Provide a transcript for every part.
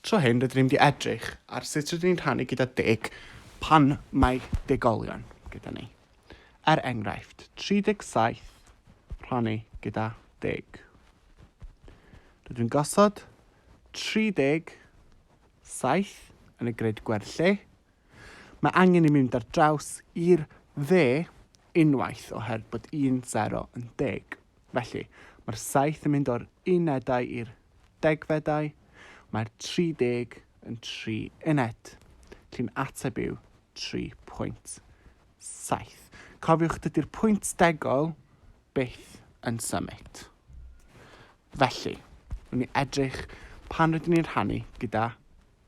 Tro hyn rydyn ni'n mynd i edrych ar sut rydyn ni'n rhannu gyda deg pan mae degolion gyda ni. Er enghraifft, 37 rhannu gyda deg. Rydyn ni'n gosod 37 yn y grid gwerthu. Mae angen i mynd ar draws i'r dde unwaith oherwydd bod 10 yn deg. Felly, mae'r saith yn mynd o'r unedau i'r degfedau, mae'r 30 yn tri uned. Felly'n ateb yw 3.7. Cofiwch, dydy'r pwynt degol byth yn symud. Felly, wnawn ni edrych pan rydyn ni'n rhannu gyda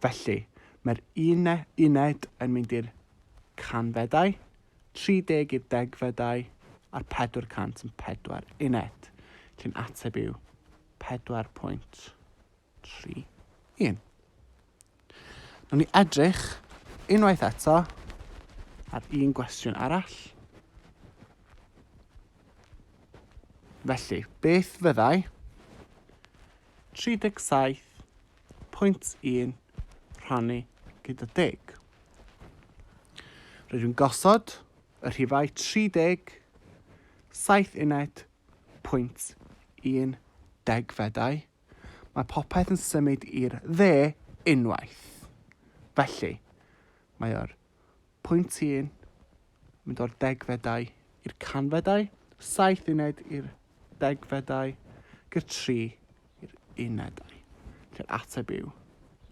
Felly, mae'r uned yn mynd i'r canfedau, 30 i'r degfedau a'r 404 uned, lle'n ateb yw 4.31. Nawr ni edrych unwaith eto ar un gwestiwn arall. Felly, beth fyddai 37 Pwynt un, Rhannu gyda deg. Rydw i'n gosod y rhifau 30, 7 uned, pwynt un degfedau. Mae popeth yn symud i'r dde unwaith. Felly, mae o'r Pwynt un, mynd o'r degfedau i'r canfedau, saith uned i'r degfedau, gyr tri i'r unedau. Felly'r ateb yw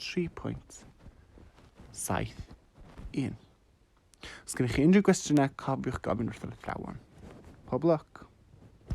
3.71. Os gennych chi unrhyw gwestiynau, cofiwch gofyn wrth yr athrawon. Pob lwc!